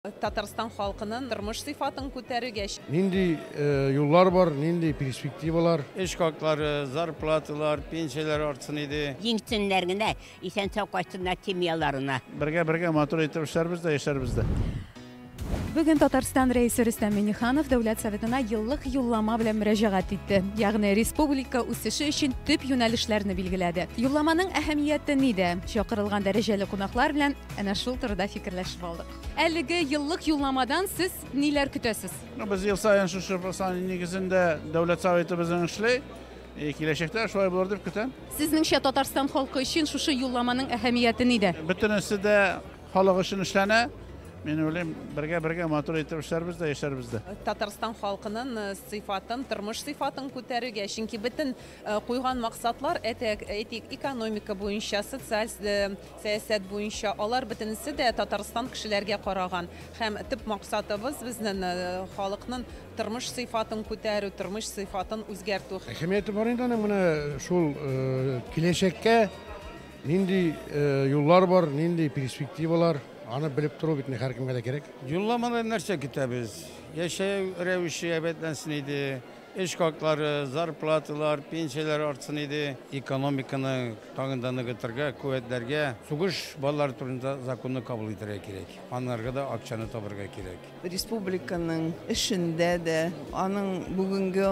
Татарстан халкының тормыш сыйфатын күтәрүгә. Нинди юллар бар, нинди перспективалар? Эш хаклары, зарплаталар, пенсияләр артсын иде. Иң төннәр генә исән-сау кайтсыннар семьяларына. Бергә-бергә матур итеп эшләрбез дә, яшәрбез дә. Бүген Татарстан Рәисе Рөстәм Миңнеханов Дәүләт Советына еллык юллама белән мөрәҗәгать итте. Ягъни республика үсеше өчен төп юнәлешләрне билгеләде. Юлламаның әһәмияте нидә? Чакырылган дәрәҗәле кунаклар белән Әнә шул турыда фикерләшеп алдык. Әлеге еллык юлламадан сез ниләр көтәсез? Ну, без ел саен шушы послание нигезендә дәүләт советыбызның эшли. И киләчәктә шулай булыр дип көтәм. Сезнеңчә Татарстан халкы өчен шушы юлламаның әһәмияте нидә? Бөтенесе дә халык өчен эшләнә. Мин уйлыйм, бергә-бергә матур итеп эшләрбез дә, яшәрбез дә. Татарстан халкының э, сыйфатын, тормыш сыйфатын күтәрергә, чөнки бөтен э, куйган максатлар, әйтик, экономика буенча, социаль э, Сәясәт буенча алар бөтенесе дә Татарстан кешеләргә караган һәм төп максатыбыз безнен халыкнын тормыш сыйфатын күтәрү, тормыш сыйфатын үзгәртү. Әһәмияте бар инде аның менә шул киләчәккә нинди юллар бар, нинди перспективалар, аны белеп тору бит инде һәркемгә дә кирәк. Юлламадан нәрсә көтәбез? Яшәү рәвеше әйбәтләнсен иде. Эш хаклары, зарплаталар, пенсияләр артсын иде. Экономиканы тагын да ныгытырга, куәтләргә, сугыш балалары турында законны кабул итәргә кирәк. Анарга да акчаны табарга кирәк. Республиканың эшендә дә, аның бүгенге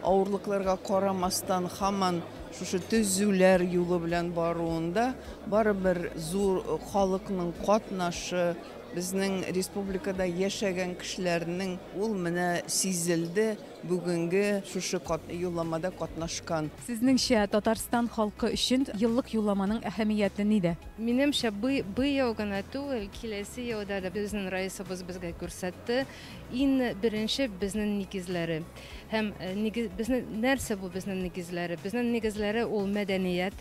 авырлыкларга карамастан һаман шушы төзүләр юлы белән баруында барыбер зур халыкның катнашы, Безнең республикада яшәгән кешеләрнең ул менә сизелде бүгенге шушы юлламада катнашкан. Сезнеңчә, Татарстан халкы өчен еллык юлламаның әһәмияте нидә? Минемчә, быел гына түгел, киләсе елда да безнең Раисыбыз безгә күрсәтте, иң беренче безнең нигезләре. Һәм нәрсә бу безнең нигезләре? Безнең нигезләре ул мәдәният,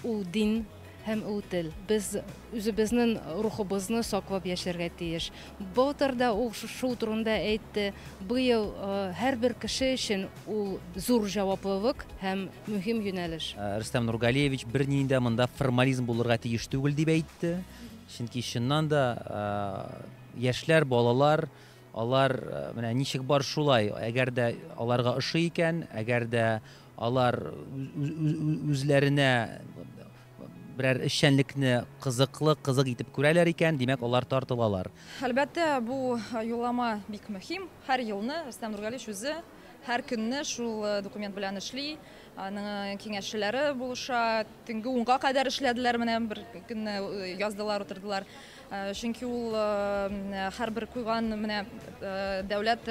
ул дин. Һәм ул тел. Без үзебезнен рухыбызны саклап яшәргә тиеш. Былтыр да ул шул турында әйтте. Быел һәрбер кеше өчен ул зур җаваплылык һәм мөһим юнәлеш. Рөстәм Нургалиевич бернинди дә монда формализм булырга тиеш түгел дип әйтте. Чөнки чыннан да яшьләр, балалар, алар менә ничек бар шулай. Әгәр дә аларга ошый икән, әгәр дә Алар үзләренә берәр эшчәнлекне кызыклы, кызык итеп күрәләр икән, димәк, алар тартылалар. Әлбәттә, бу юллама бик мөһим. Һәр елны Рөстәм Нургалич үзе һәр көнне шул документ белән эшли, аның киңәшчеләре булыша. Төнге унга кадәр эшләделәр, менә бер көнне яздылар, утырдылар. Чөнки ул һәрбер куйган менә дәүләт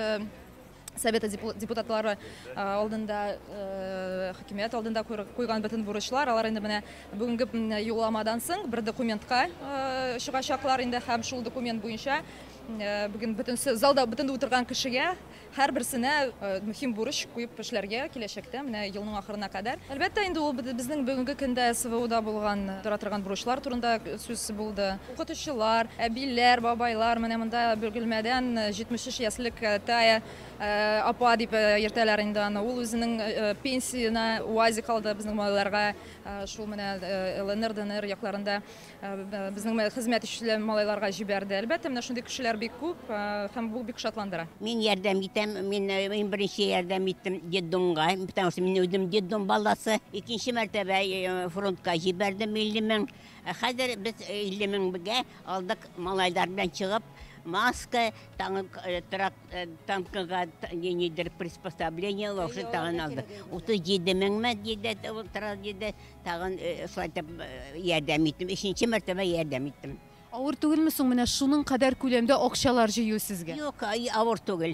Совета депутатлары алдында, хакимият алдында куйган бөтен бурычлар, алар инде менә бүгенге юлламадан соң бер документка чыгачаклар инде һәм шул документ буенча бүген бөтен залда бөтен утырган кешегә һәрберсенә мөһим бурыч куеп эшләргә киләчәктә менә елның ахырына кадәр. Әлбәттә, инде ул безнең бүгенге көндә СВОда булган тора торган бурычлар турында сүз булды. Укытучылар, әбиләр, бабайлар менә монда Бөгелмәдән 73 яшьлек Тая апа дип йөртәләр инде аны. Ул үзенең пенсиена УАЗик алды безнең малайларга. Шул менә ЛНР, ДНР якларында безнең хезмәт итүче малайларга җибәрде. Әлбәттә, менә шундый кешеләр бик күп һәм бу бик шатландыра. Мин ярдәм итәм, мин иң беренче ярдәм иттем детдомга, потому что мин үзем детдом баласы. Икенче мәртәбә фронтка җибәрдем 50 мең Ә хәзер без 50 меңгә алдык малайлар белән чыгып, маска, танк, трак, танкыга нидер приспособление, лошадь тагын алдык. 37 меңме диде, ул трак диде, тагын шулай итеп ярдәм иттем, өченче мәртәбә ярдәм иттем. Авыр түгелме соң менә шуның кадәр күләмдә акчалар җыю сезгә? Юк, авыр түгел.